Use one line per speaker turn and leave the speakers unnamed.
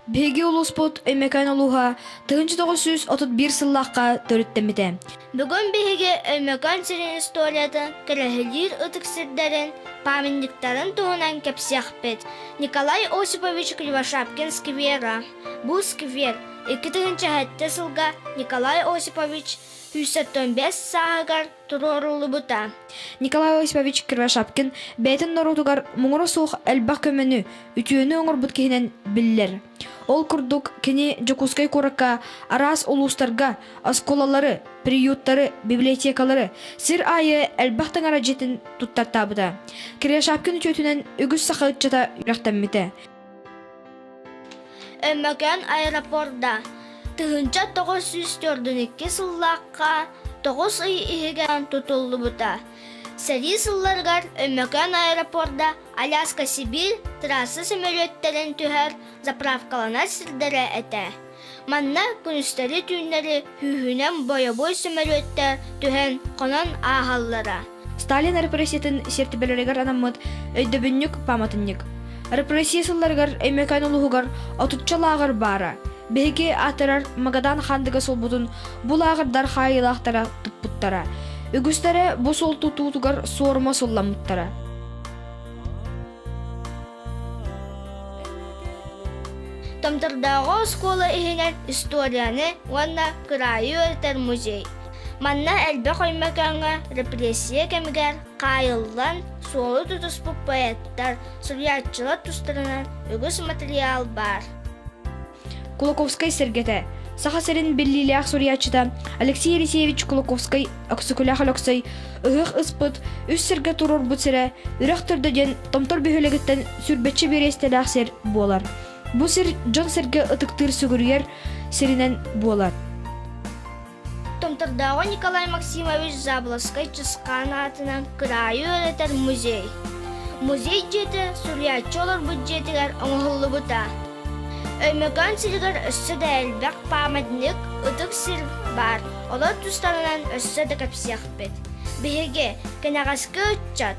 Биһиги улууспут Өймөкөөн улууһа 1931 сыллаахха төрүттэммитэ. Бүгүн биһиги
Өймөкөөн сирин историятын, көрөһөлүүр ытык сирдэрин, памятниктарын туһунан кэпсиэхпит. Николай Осипович Кривошапкин сквера. Бу сквер 2007 сылга Николай Осипович 175 сааһыгар туруоруллубута. Николай Осипович
Кривошапкин бэйэтин норуотугар муҥура суох элбэх көмөнү, үтүөнү оҥорбут киһинэн биллэр. Ол курдук, кини Дьокуускай куоракка араас улуустарга оскуолалары, приюттары, библиотекалары, сир аайы элбэх таҥара дьиэтин туттартаабыта. Кривошапкин үтүөтүнэн үгүс саха ыччата үөрэхтэммитэ.
Өймөкөөн аэропорда тыһыынча тоҕус сүүс төрдүн икки сыллаахха тоҕус ый иһигэр тутуллубута. Сэрии сылларыгар Өймөкөөн аэропорда Аляска-Сибиир трасса сөмөлүөттэрин түһэр заправкаланар сирдэрэ этэ. Манна күнүстэри-түүннэри күүһүнэн бойобуой сөмөлүөттэр түһэн хонон ааһаллара. Сталин
репрессиятын сиэртибэлэригэр анаммыт өйдөбүнньүк пааматынньык. Репрессия сылларыгар Өймөкөөн улууһугар отучча лааҕыр баара. Биһиги аатырар Магадан Хаандыга суолбутун бу лааҕырдар хаайыылаахтара туппуттара. Үгүстэрэ бу суол тутуутугар суорума сулламмыттара.
Томтордооҕу оскуола иһинэн историяны уонна кыраайы ырытар музей. Манна элбэх өймөкөөҥҥө репрессия кэмигэр хаайыллан, суолу тутуспут поэттар, суруйааччылар тустарынан үгүс матырыйаал баар.
Кулаковскай сэргэтэ, Саха сирин биллиилээх суруйааччыта Алексей Елисеевич Кулаковскай Өксөкүлээх Өлөксөй Ыһыах ыспыт, үс сиргэ туруорбут сирэ, Үрэх Төрдө диэн Томтор бөһүөлэгиттэн сүрбэччэ бириэстэлээх сир буолар. Бу сир дьон-сэргэ ытыктыыр сүгүрүйэр сиринэн буолар. Томтордооҕу
Николай Максимович Заболоцкай Чысхаан аатынан кыраайы үөрэтэр музей. Музей дьиэтэ суруйааччы олорбут дьиэтигэр оҥоһуллубута. Өймөкөөн сиригэр өссө да элбэх пааматник, ытык сир баар. Олор тустарынан өссө да кэпсиэхпит. Биһиги, кэнэҕэски ыччат,